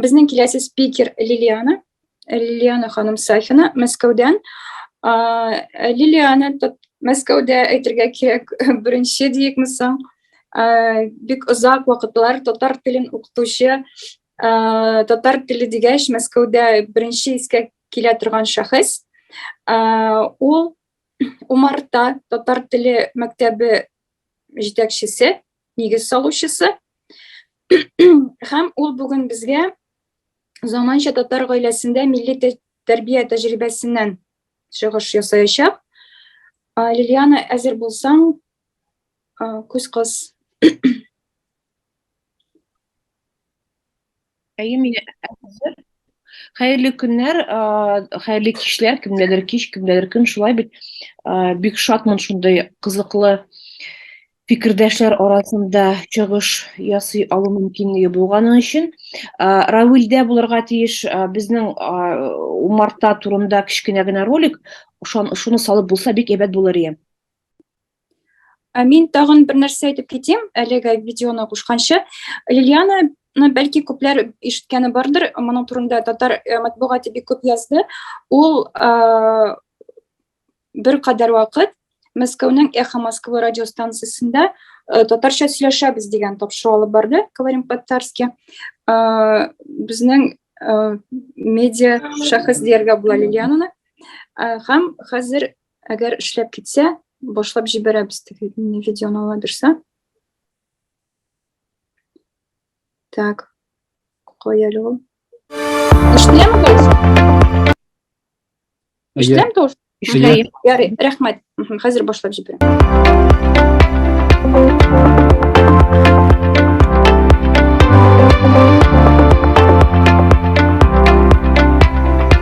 Безнең киләсе спикер Лилиана. Лилиана ханым Сафина, Мәскәүдән. Лилиана Мәскәүдә әйтергә кирәк, беренче диекме соң. Бик озак вакытлар татар телен укытучы, татар теле дигәч, Мәскәүдә беренче искә килә торган шәхес. Ул Умарта татар теле мәктәбе җитәкчесе, нигез салучысы. Һәм ул бүген безгә заманча татар гаиләсендә милли тәрбия тәҗрибәсеннән чыгыш ясаячак. Лилиана, әзер булсаң, күз кыз. Әйе, мин әзер. Хәерле көннәр, хәерле кичләр, кемнәдер кич, кемнәдер көн, шулай бит. Бик шатмын шундый кызыклы фикердәшләр арасында чыгыш ясый алу мөмкинлеге булганы өчен. Равилдә булырга тиеш безнең умарта турында кечкенә генә ролик, шуны салып булса бик әйбәт булыр иде. Мин тагын бер нәрсә әйтеп китим, әлеге видеоны кушканчы. Лилиана ну, бәлки күпләр ишеткәне бардыр, моның турында татар э, матбугаты бик күп язды. Ул э, бер кадәр вакыт Мәскәүнең Эхо Москвы радиостанциясендә э, татарча сөйләшәбез дигән тапшыру алып барды, говорим по-татарски. Э, безнең э, медиа шәхес дияргә була Лилиананы. Э, һәм хәзер Әгәр эшләп китсә, башлап җибәрәбез теге видеоны ала бирсә. Так. Кая әле ул? Эшләме дөрес? Эшләм дөрес? Эшләйм. Ярый, рәхмәт. Хәзер башлап җибәрәм.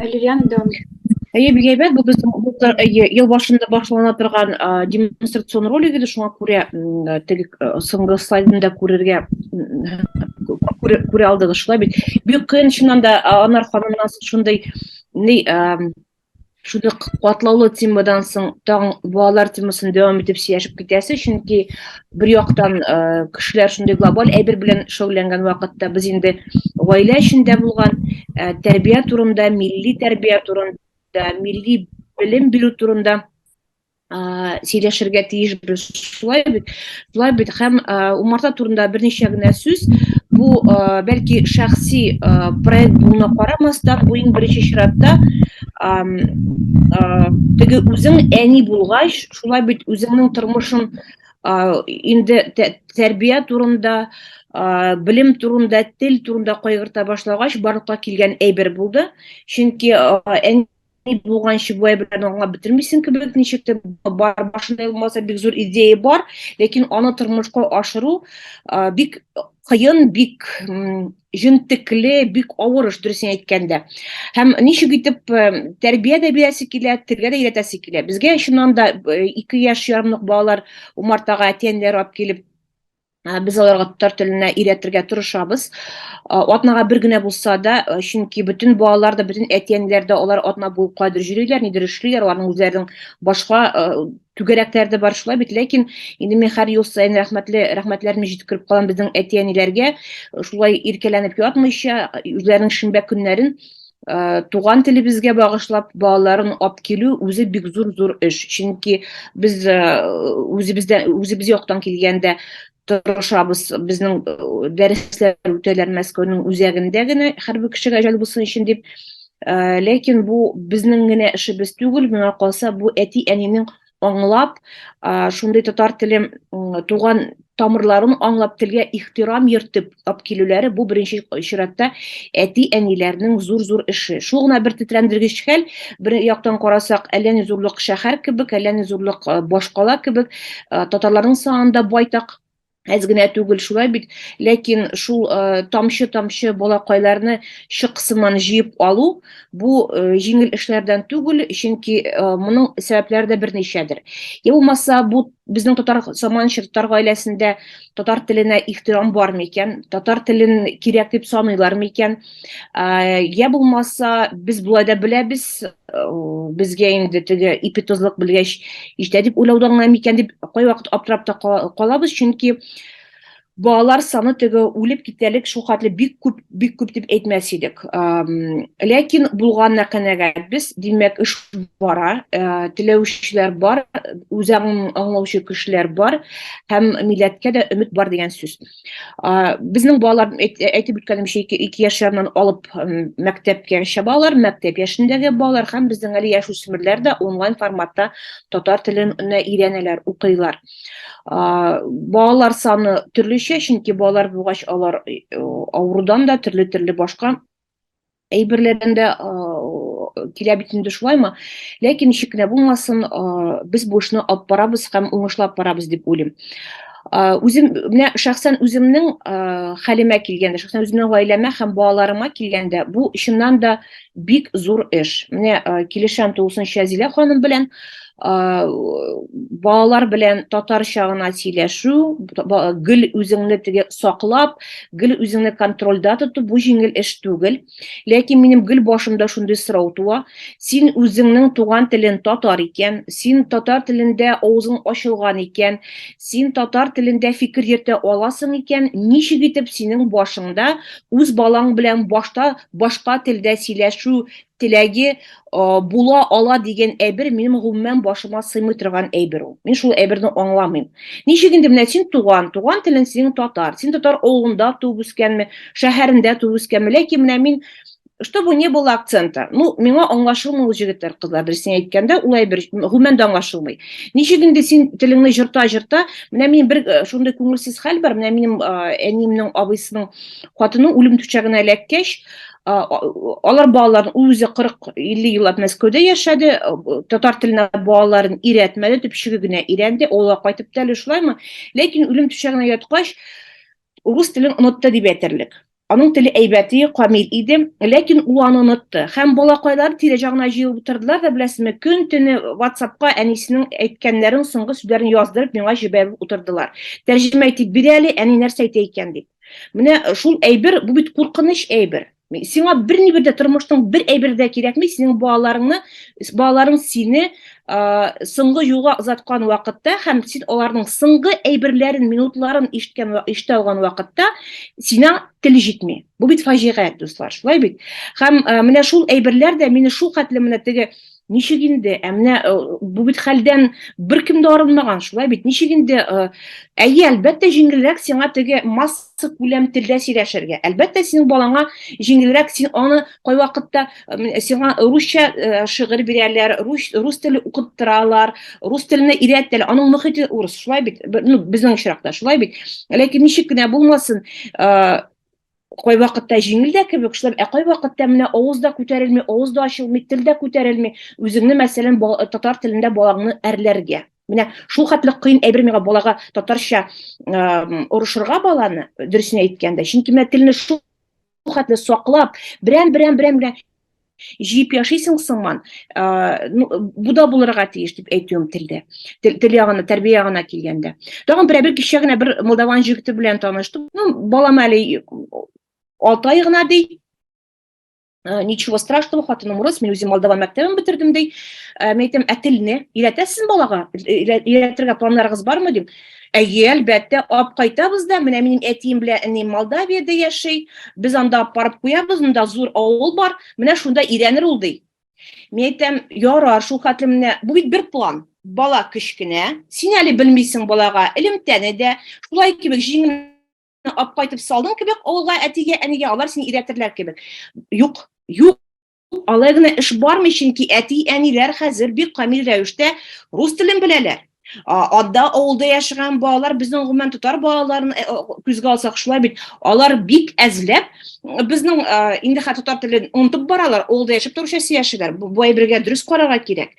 Лилиана дәвам ит. Әйе, бик әйбәт. Бу безнең булдыр, әйе, ел башында башлана торган а, демонстрацион ролик иде, шуңа күрә м, теге э, соңгы слайдны да күрергә м, күрә, күрә алдыгыз шулай бит. Бик кыен чыннан да а, Анар ханымнан соң шундый ни а, шундый катлаулы темадан соң тагын балалар темасын дәвам итеп сөйләшеп китәсе, чөнки бер яктан кешеләр шундый глобаль әйбер белән шөгыльләнгән вакытта без инде гаилә эчендә булган тәрбия турында милли тәрбия турында милли белем бирү турында сөйләшергә тиешбез шулай бит шулай бит һәм умарта турында берничә генә сүз бу бәлки шәхси проект булуына карамастан бу иң беренче чиратта теге үзең әни булгач шулай бит үзеңнең тормышың инде тәрбия турында белем турында тел турында кайгырта башлагач барлыкка килгән әйбер булды чөнки әни булганчы бу әйберләрне аңлап бетермисең кебек ничек тә бар башында булмаса бик зур идея бар ләкин аны тормышка ашыру бик кыен бик җентекле, бик авыр эш дөресен әйткәндә. Һәм ничек итеп э, тәрбия дә бирәсе килә, телгә дә өйрәтәсе килә. Безгә чыннан да 2 э, яшь ярымлык балалар умартага әти-әниләр алып килеп э, без аларга татар теленә өйрәтергә тырышабыз. Атнага бер генә булса да, чөнки бөтен балалар да, бөтен әти-әниләр дә алар атна буе кадер йөриләр, нидер эшлиләр, аларның үзләренең башка түгәрәкләр дә бар шулай бит ләкин инде мин һәр ел саен рәхмәтле рәхмәтләрне җиткереп калам безнең әти әниләргә шулай иркәләнеп ятмыйча үзләренең шимбә көннәрен Э, туган телебезгә багышлап балаларын алып килү үзе бик зур зур эш чөнки без э, үзебездә үзебез яктан килгәндә тырышабыз. Безнең э, дәресләр үтәләр Мәскәүнең үзәгендә генә, хәрби кешегә җәл булсын өчен дип. Э, ләкин бу безнең генә эшебез түгел, миңа калса, бу әти-әнинең аңлап, э, шундый татар телем туган тамырларын аңлап, телгә ихтирам йөртеп, ташлап килүләре бу беренче чиратта әти-әниләрнең зур-зур эше. Шул гына бер тетрәндергеч хәл, бер яктан карасак, әллә ни зурлык шәһәр кебек, әллә ни зурлык э, башкала кебек, э, татарларның санында байтак әз генә түгел шулай бит ләкин шул э, тамчы тамчы балакайларны чыксыман җыеп алу бу э, җиңел эшләрдән түгел чөнки э, моның сәбәпләре дә берничәдер я булмаса бу безнең татар заманча татар гаиләсендә татар теленә ихтирам бар микән татар телен кирәк дип саныйлар микән я булмаса без болай да беләбез безгә инде теге ипи тозлык белгәч җитә дип уйлаудан гына микән дип кайвакыт аптырап та калабыз чөнки балалар саны теге үлеп китәлек шул хәтле бик күп бик күп дип әйтмәс идек ләкин булганына канәгатьбез димәк эш бара э, теләүчеләр бар үзәңен аңлаучы кешеләр бар һәм милләткә дә өмет бар дигән сүз безнең балалар әйтеп үткәнемчә ике яшьләреннән алып мәктәпкәчә балалар мәктәп яшендәге балалар һәм безнең әле яшүсмерләр дә онлайн форматта татар телен өйрәнәләр укыйлар балалар саны төрлечә чөнки балалар булгач алар э, авырудан да төрле төрле башка әйберләрдән дә килә бит инде шулаймы ләкин ничек кенә булмасын без бу эшне алып барабыз һәм уңышлап барабыз дип уйлыйм үзем менә шәхсән үземнең хәлемә килгәндә шәхсән үземнең гаиләмә һәм балаларыма килгәндә бу чыннан да бик зур эш менә килешәм тулысынча зилә ханым белән балалар белән татарча гына сөйләшү, гел үзеңне теге саклап, гел үзеңне контрольдә тоту бу җиңел эш түгел. Ләкин минем гел башымда шундый сорау туа, син үзеңнең туган телен татар икән, син татар телендә авызың ачылган икән, син татар телендә фикер йөртә аласың икән, ничек итеп синең башыңда үз балаң белән башта башка телдә сөйләшү теләге э, була ала дигән әйбер минем гомумән башыма сыймый торган әйбер ул. Мин шул әйберне аңламыйм. Ничек инде менә син туган, туган телен синең татар. Син татар авылында туып үскәнме, шәһәрендә туып үскәнме? Ләкин менә мин чтобы не было акцента. Ну, миңа аңлашылмый ул җегетләр, кызлар, дөресен әйткәндә, ул әйбер гомумән дә аңлашылмый. Ничек инде син телеңне җырта-җырта, менә мин бер э, шундый күңелсез хәл бар, менә минем э, әниемнең абыйсының хатыны үлем түшәгенә эләккәч, алар балаларын ул үзе 40-50 еллап Мәскәүдә яшәде, татар теленә балаларын өйрәтмәде, төпчеге генә өйрәнде, авылга кайтып та әле шулаймы? Ләкин үлем түшәгенә яткач, урыс телен онытты дип әйтерлек. Аның теле әйбәте, камил иде, ләкин ул аны онытты. Һәм балакайлар тирә ягына җыелып утырдылар да, беләсезме, көн төне WhatsApp-ка әнисенең әйткәннәрен, соңгы сүзләрен яздырып, миңа җибәреп утырдылар. Тәрҗемә итеп бир әле, әни нәрсә әйтә икән дип. Менә шул әйбер, бу бит куркыныч әйбер. Сиңа бер ни бердә тормышның бер әйбер дә кирәкми, синең балаларыңны, балаларың сине соңгы юлга озаткан вакытта һәм син аларның соңгы әйберләрен, минутларын ишеткән ишетә алган вакытта сина тел җитми. Бу бит фаҗига, дуслар, шулай бит. Һәм менә шул әйберләр дә мине шул хәтле менә теге Ничек инде? Ә менә э, бу бит хәлдән беркем дә арынмаган, шулай бит. Ничек инде? Э, әйе, әлбәттә, җиңелрәк сиңа теге масса күләм телдә сөйләшергә. Әлбәттә, синең балаңа җиңелрәк, син аны кайвакытта э, сиңа русча шигырь бирәләр, рус, рус теле укыттыралар, рус теленә өйрәтәләр. Аның мөхите урыс, шулай бит. Ну, безнең очракта шулай бит. Ләкин ничек кенә булмасын, кайвакытта җиңел дә кебек шулай ә кайвакытта менә авыз да күтәрелми авыз да ачылмый тел дә күтәрелми үзеңне мәсәлән татар телендә балаңны әрләргә менә шул хәтле кыен әйбер миңа балага татарча орышырга баланы дөресен әйткәндә чөнки менә телне шул хәтле саклап берәм берәм берәм җыеп яшисең сыңман ну бу да булырга тиеш дип әйтүем телдә тел ягына тәрбия ягына килгәндә тагын берәбер кичә генә бер молдаван җегете белән таныштым ну балам әле алты ай гына ди ничего страшного хатыным урыс мин үзем молдаван мәктәбен бетердем ди мен әйтәм ә телне өйрәтәсезме балага өйрәтергә планнарыгыз бармы дим Әйе, әлбәттә, ап кайтабыз да, менә минем әтием белән әнием Молдавиядә яши, без анда апарып куябыз, монда зур авыл бар, менә шунда өйрәнер ул, ди. Мин әйтәм, ярар, шул хәтле менә, бу бит бер план. Бала кечкенә, син әле белмисең балага элемтәне дә, шулай кебек җиңел ап кайтып салдың кебек авылга әтигә, әнигә, алар сине өйрәтерләр кебек. Юк, юк, Алай гына эш бармый, чөнки әти-әниләр хәзер бик камил рәвештә рус телен беләләр. Адда авылда яшәгән балалар безнең гомумән татар балаларын э, күзгә алсак шулай бит. Алар бик әзләп э, безнең э, инде хәтта татар телен онытып баралар, авылда яшәп торучы яшиләр. Бу әйбергә дөрес карарга кирәк.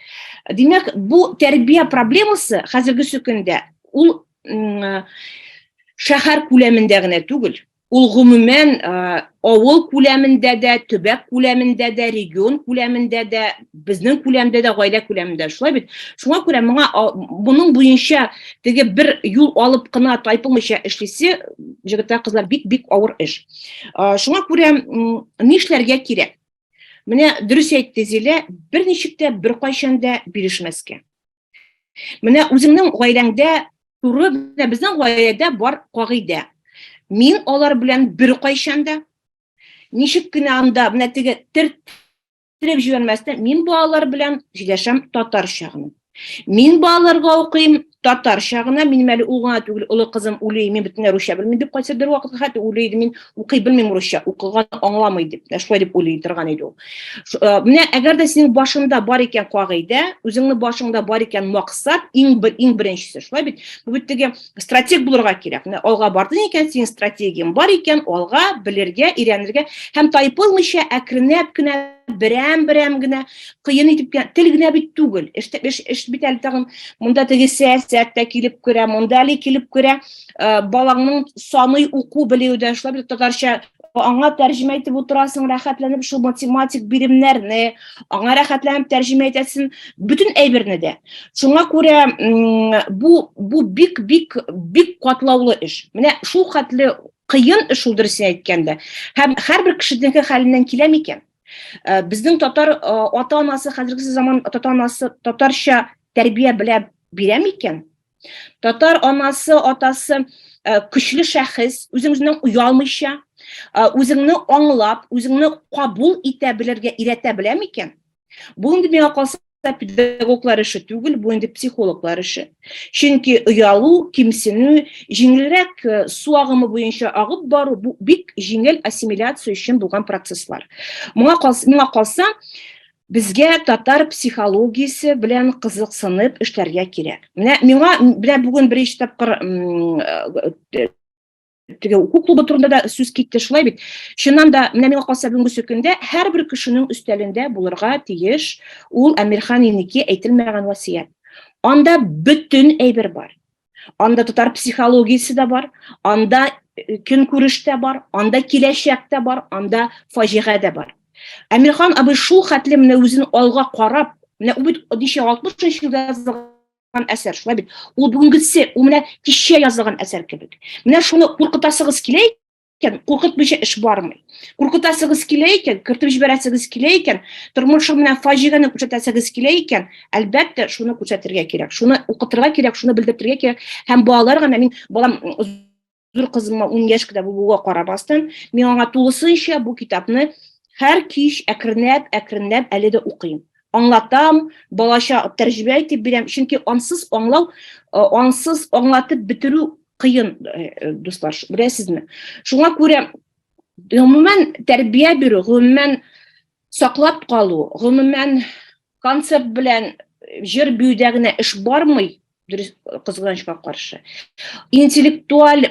Димәк, бу тәрбия проблемасы хәзерге көндә ул шәһәр күләмендә генә түгел, Ул гомумән авыл күләмендә дә, төбәк күләмендә дә, регион күләмендә дә, безнең күләмдә дә, гаилә күләмендә шулай бит. Шуңа күрә моңа моның буенча теге бер юл алып кына тайпылмыйча эшлисе, җегетләр, кызлар, бик-бик авыр эш. Шуңа күрә нишләргә кирәк? Менә дөрес әйтте Зилә, берничек тә беркайчан да бирешмәскә. Менә үзеңнең гаиләңдә туры менә безнең гаиләдә бар кагыйдә. Мин алар белән бер кайчан да ничек кенә анда менә теге төрттереп җибәрмәстән мин балалар белән сөйләшәм татарча гына. Мин балаларга укыйм татарча гына, минем әле ул гына түгел, олы кызым үлей, мин бөтенләй русча белмим дип кайсы бер вакытка хәтта үлей мин укый белмим русча, укыган аңламый дип, шулай дип уйлый торган иде ул. Э, менә әгәр дә синең башыңда бар икән кагыйдә үзеңнең башыңда бар икән максат иң бер иң беренчесе шулай бит бу бит теге стратег булырга кирәк менә алга бардың икән синең стратегияң бар икән алга белергә өйрәнергә һәм тайпылмыйча әкренләп кенә берәм берәм генә кыен итеп кенә тел генә бит түгел эш, эш, эш бит әле тагын монда теге сәясәт тә килеп керә монда әле килеп керә э, балаңның саный уку белүе дә шулай бит татарча аңа тәрҗемә итеп утырасың, рәхәтләнеп шул математик биремнәрне, аңа рәхәтләнеп тәрҗемә итәсең, бөтен әйберне дә. Шуңа күрә бу бу бик бик бик катлаулы эш. Менә шул хәтле кыен эш ул дөресен әйткәндә. Һәм һәрбер кешенеке хәленнән килә микән? Э, безнең татар э, ата-анасы хәзерге заман ата-анасы татарча тәрбия белә бирә микән? Татар анасы, атасы э, көчле шәхес, үзеңнең уялмыйча, э, үзеңне аңлап, үзеңне кабул итә белергә иретә белә микән? Бу инде миңа калса педагоглар эше түгел, бу инде психологлар эше. Чөнки оялу, кимсенү, җиңелрәк э, су агымы буенча агып бару бу бик җиңел ассимиляция өчен булган процесслар. Моңа калса, миңа калса, Безгә татар психологиясе белән кызыксынып эшләргә кирәк. Менә миңа белә бүген беренче тапкыр теге уку клубы турында да сүз китте шулай бит чыннан да менә миңа калса бүгенге көндә һәрбер кешенең өстәлендә булырга тиеш ул әмирхан инеке әйтелмәгән васыять анда бөтен әйбер бар Анда татар психологиясе дә бар, анда э, көн күреш тә бар, анда киләчәк тә бар, анда фаҗига дә бар. Әмирхан абый шул хәтле менә үзен алга карап, менә ул бит 60 елда язылган әсәр, шулай бит. Ул бүгенгесе, ул менә кичә язылган әсәр кебек. Менә шуны куркытасыгыз килә икән, куркытмыйча эш бармый. Куркытасыгыз килә икән, кертеп җибәрәсегез килә икән, тормышым белән фаҗигане күрсәтәсегез килә икән, әлбәттә, шуны күрсәтергә кирәк, шуны укытырга кирәк, шуны белдертергә кирәк. Һәм балалар гына мин балам зур кызыма 10 яшь кенә булуга карамастан, мин аңа тулысынча бу китапны һәр кич әкренләп, әкренләп әле дә укыйм. Аңлатам, балача тәрҗемә итеп бирәм, чөнки ансыз аңлау, ансыз аңлатып бетерү кыен, э, дуслар, беләсезме? Шуңа күрә гомумән тәрбия бирү, гомумән саклап калу, гомумән концерт белән җыр биюдә генә эш бармый, дөрес кызганычка каршы. Интеллектуаль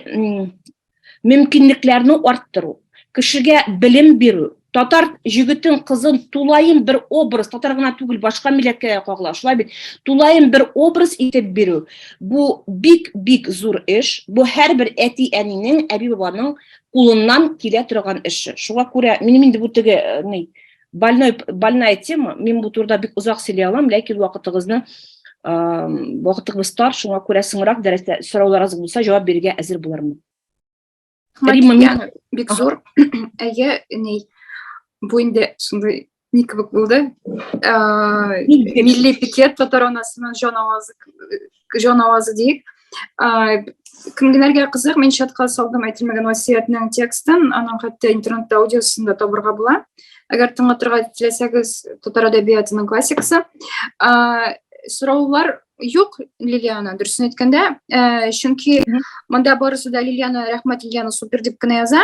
мөмкинлекләрне арттыру. кешегә белем бирү, татар җегетен, кызын тулаем бер образ, татар гына түгел, башка милләткә дә кагыла, шулай бит, тулаем бер образ итеп бирү, бу бик-бик зур эш, бу һәрбер әти-әнинең, әби-бабаның кулыннан килә торган эше. Шуңа күрә минем инде бу теге э, ни больной больная тема, мин бу турыда бик озак сөйли алам, ләкин вакытыгызны вакытыгыз тар, шуңа күрә соңрак дәрестә сорауларыгыз булса, җавап бирергә әзер булырмын. Римма бик зур. Әйе, ни бу инде шундый ник кебек булды. Милли пикет татар анасының җан авазы җан авазы диек. Кемгенәргә кызык, мин чатка салдым әйтелмәгән васиятнең текстын, аның хәтта интернетта аудиосын да табырга була. Әгәр тыңлатырга теләсәгез, татар әдәбиятының классикасы. Сораулар Юк, Лилиана, дөресен әйткәндә, э, чөнки монда барысы да Лилиана рәхмәт Лилиана супер дип кенә яза.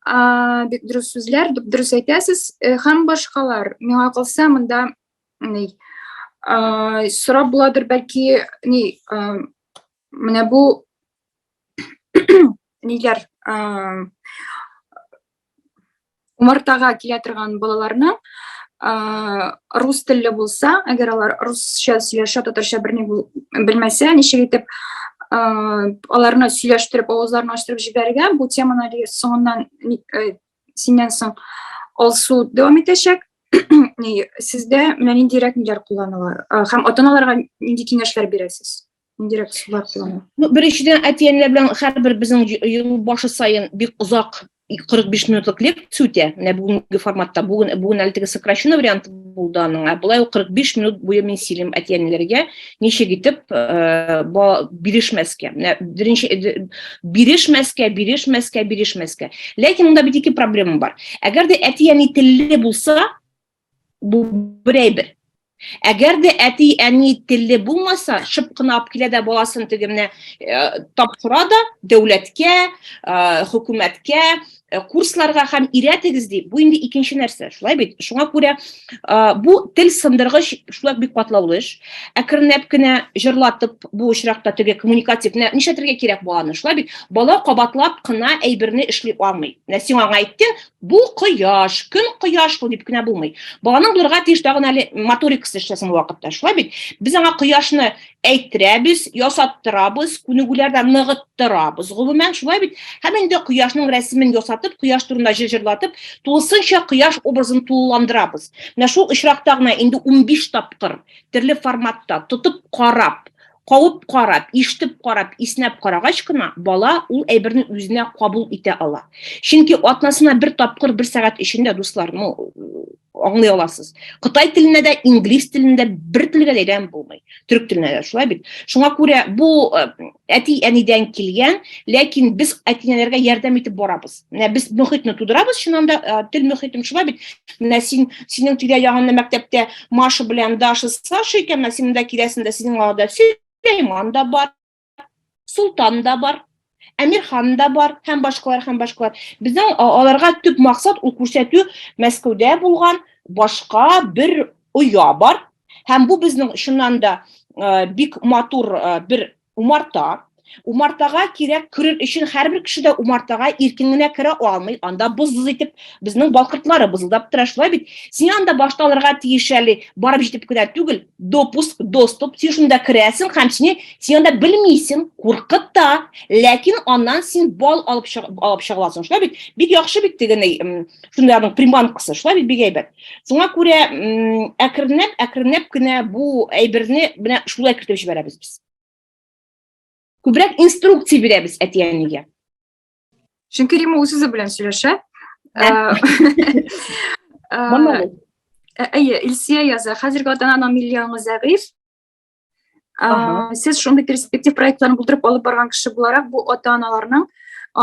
Э, бик дөрес сүзләр, дөрес әйтәсез. Э, һәм башкалар, миңа калса, монда ни э, сорап буладыр, бәлки, ни, э, менә бу ниләр умартага килә торган балаларны рус телле булса, әгәр алар русча сөйләшә, татарча берни белмәсә, ничек итеп аларны сөйләштереп, авызларын ачтырып җибәрергә, бу теманы әле соңыннан синнән соң алсу дәвам итәчәк. Сездә менә ниндирәк ниләр кулланыла һәм ата-аналарга нинди киңәшләр бирәсез? Индирәк сулар планы. Ну, беренчедән, әтиәнләр белән һәрбер безнең ел башы саен бик озак 45 минутлык лекция үтә. Менә бүгенге форматта, бүген бүген әле теге сокращенный вариант булды аның. Ә болай 45 минут буе мин сөйлим әтиәнләргә, ничек итеп э, бирешмәскә. Менә беренче э, бирешмәскә, бирешмәскә, бирешмәскә. Ләкин монда бит ике проблема бар. Әгәр дә әтиәни телле булса, Бу бер әйбер. Әгәр дә әти-әни телле булмаса, шып кына алып килә дә баласын теге менә э, тапшыра да дәүләткә, э, хөкүмәткә, э, курсларга һәм өйрәтегез ди. Бу инде икенче нәрсә, шулай бит? Шуңа күрә бу тел сындыргыч шулай бик катлаулы эш. Әкренләп кенә җырлатып бу очракта теге коммуникатив менә нишләтергә кирәк баланы, шулай бит? Бала кабатлап кына әйберне эшли алмый. Менә сиңа аңа әйттең, Бу кояш, көн кояш бу дип кенә булмый. Баланың булырга тиеш тагын әле моторикасы эшләсен бу вакытта. Шулай бит? Без аңа кояшны әйттерәбез, ясаттырабыз, күнегүләрдә ныгыттырабыз. Гомумән шулай бит? Һәм инде кояшның рәсемен ясатып, кояш турында җыр җырлатып, тулысынча кояш образын тулыландырабыз. Менә шул очракта гына инде 15 тапкыр төрле форматта тотып карап, кабып карап, ишетеп карап, иснәп карагач кына бала ул әйберне үзенә кабул итә ала. Чөнки атнасына бер тапкыр бер сәгать эчендә дуслар, ну, аңлый аласыз. Кытай телендә дә, инглиз телендә бер телгә дә өйрәнеп булмый. Төрек телендә дә шулай бит. Шуңа күрә бу э, әти-әнидән килгән, ләкин без әти-әниләргә ярдәм итеп барабыз. менә без мөхитне тудырабыз чыннан да э, тел мөхитем шулай бит менә син синең тирә ягыңны мәктәптә маша белән даша саша икән менә син монда киләсең дә синең арада сөләйман да бар солтан да бар әмирхан да бар һәм башкалар һәм башкалар безнең аларга төп максат ул күрсәтү мәскәүдә булган башка бер оя бар һәм бу безнең чыннан да э, бик матур э, бер Умарта. Умартага кирәк керер өчен һәрбер кеше дә умартага иркен генә керә алмый. Анда быз-быз итеп безнең балкыртлары бызылдап тора. Шулай бит? Син анда башта алырга тиеш әле, барып җитеп кенә түгел. Допуск, доступ, син шунда керәсең һәм сине син анда белмисең, куркыта. Ләкин аннан син бал алып чыгып алып чыгаласың. Шулай бит? Бик яхшы бит тегеней, шунларның приманкасы. Шулай бит бик әйбәт. Шуңа күрә әкренләп, әкренләп кенә бу әйберне менә шулай кертеп җибәрәбез без. Күбрәк инструкция бирәбез әти-әнигә. Чөнки Рима үз үзе белән сөйләшә. Әйе, Илсия яза. Хәзерге ата-ананың милли аңы зәгыйфь. Ә, сез шундый перспектив проектларын булдырып алып барган кеше буларак, бу ата-аналарның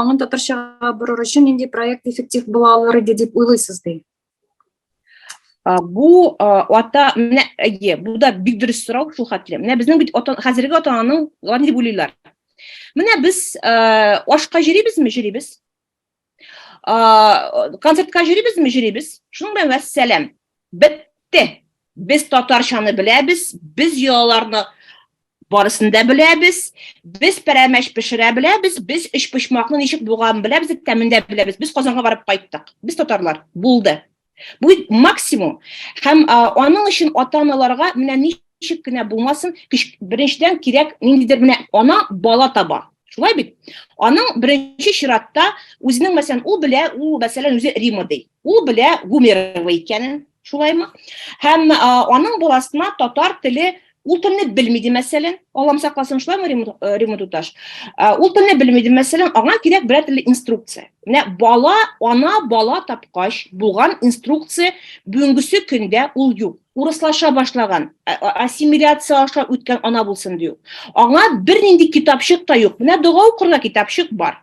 аңын татарчага борыр өчен нинди проект эффектив була алыр иде дип уйлыйсыз ди? бу ата менә әйе бу да бик дөрес сорау шул хәтле менә безнең бит ата хәзерге ата ананың алар ни дип уйлыйлар менә без ашка җөрибезме җөрибез концертка йөрибезме йөрибез шуның белән вәссәләм бетте без татарчаны беләбез без йолаларны барысын да беләбез без пәрәмәч пешерә беләбез без өчпочмакны ничек буган беләбез тәмен дә беләбез без казанга барып кайттык без татарлар булды Бу максимум. Һәм аның өчен ата-аналарга менә ничек кенә булмасын, беренчедән кирәк ниндидер менә ана бала таба. Шулай бит? Аның беренче чиратта үзенең мәсәлән, ул белә, ул мәсәлән үзе Рима ди. Ул белә Гумерова икәнен, шулаймы? Һәм аның баласына татар теле Ул телне белми ди мәсәлән, Аллам сакласын шулаймы Римма туташ? Ул телне белми ди мәсәлән, аңа кирәк берәр төрле инструкция. Менә бала, ана бала тапкач булган инструкция бүгенгесе көндә ул юк. Урыслаша башлаган, ассимиляция аша үткән ана булсын дию. Аңа бернинди китапчык та юк. Менә дога укырга китапчык бар.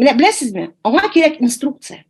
Менә беләсезме? Аңа кирәк инструкция.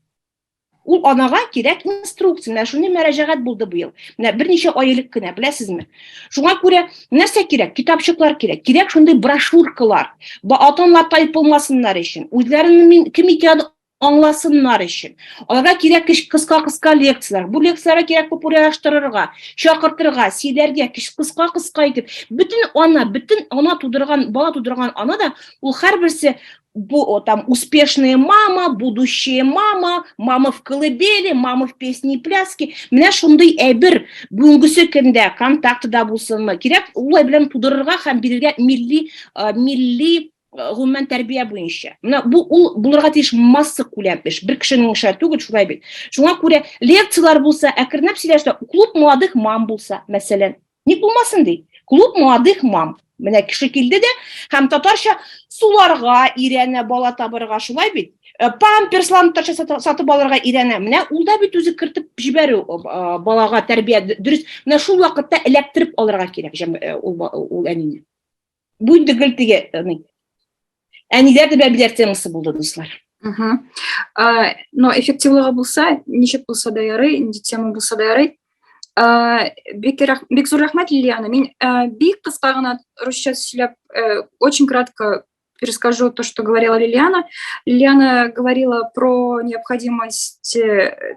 Ул анага кирәк инструкция. Менә шуны мәрәҗәгать булды бу ел. Менә берничә ай элек кенә, беләсезме? Шуңа күрә нәрсә кирәк? Китапчыклар кирәк. Кирәк шундый брошюркалар. Бу атанлар тайпылмасыннар өчен, үзләренең мин кем икәнен аңласыннар өчен. Аларга кирәк кыска-кыска лекцияләр. Бу лекцияләргә кирәк популярлаштырырга, чакыртырга, сөйләргә, кыска-кыска итеп. Бөтен ана, бөтен ана тудырган, бала тудырган ана да ул һәрберсе Бу, там успешная мама, будущая мама, мама в колыбели, мама в песне и пляске. Менә шундый әйбер бүгенге көндә контактыда булсынмы? Кирәк улай белән тудырырга һәм бирергә милли э, милли э, гомумән тәрбия буенча. Менә бу ул булырга тиеш масса күләм эш. Бер кешенең эше түгел шулай бит. Шуңа күрә лекцияләр булса, әкренләп сөйләшсә, клуб молодых мам булса, мәсәлән, Ник булмасын ди? Клуб молодых мам. Менә кеше килде дә һәм татарча суларга ирәнә бала табырга шулай бит. Э, памперсларны татарча сатып алырга ирәнә. Менә ул да бит үзе кертеп җибәрү э, э, балага тәрбия дөрес. Менә шул вакытта эләктереп алырга кирәк ул, ул әнине. Бүлде гел теге, әниләр дә бәбиләр темасы булды, дуслар. Угу. А, но эффективлыгы булса, ничек булса да ярый, инде тема булса да ярый. А, бик, рах... бик зур рәхмәт, Лилиана. Мин а, бик кыска гына русча сөйләп, э, очень кратко перескажу то, что говорила Лилиана. Лилиана говорила про необходимость э,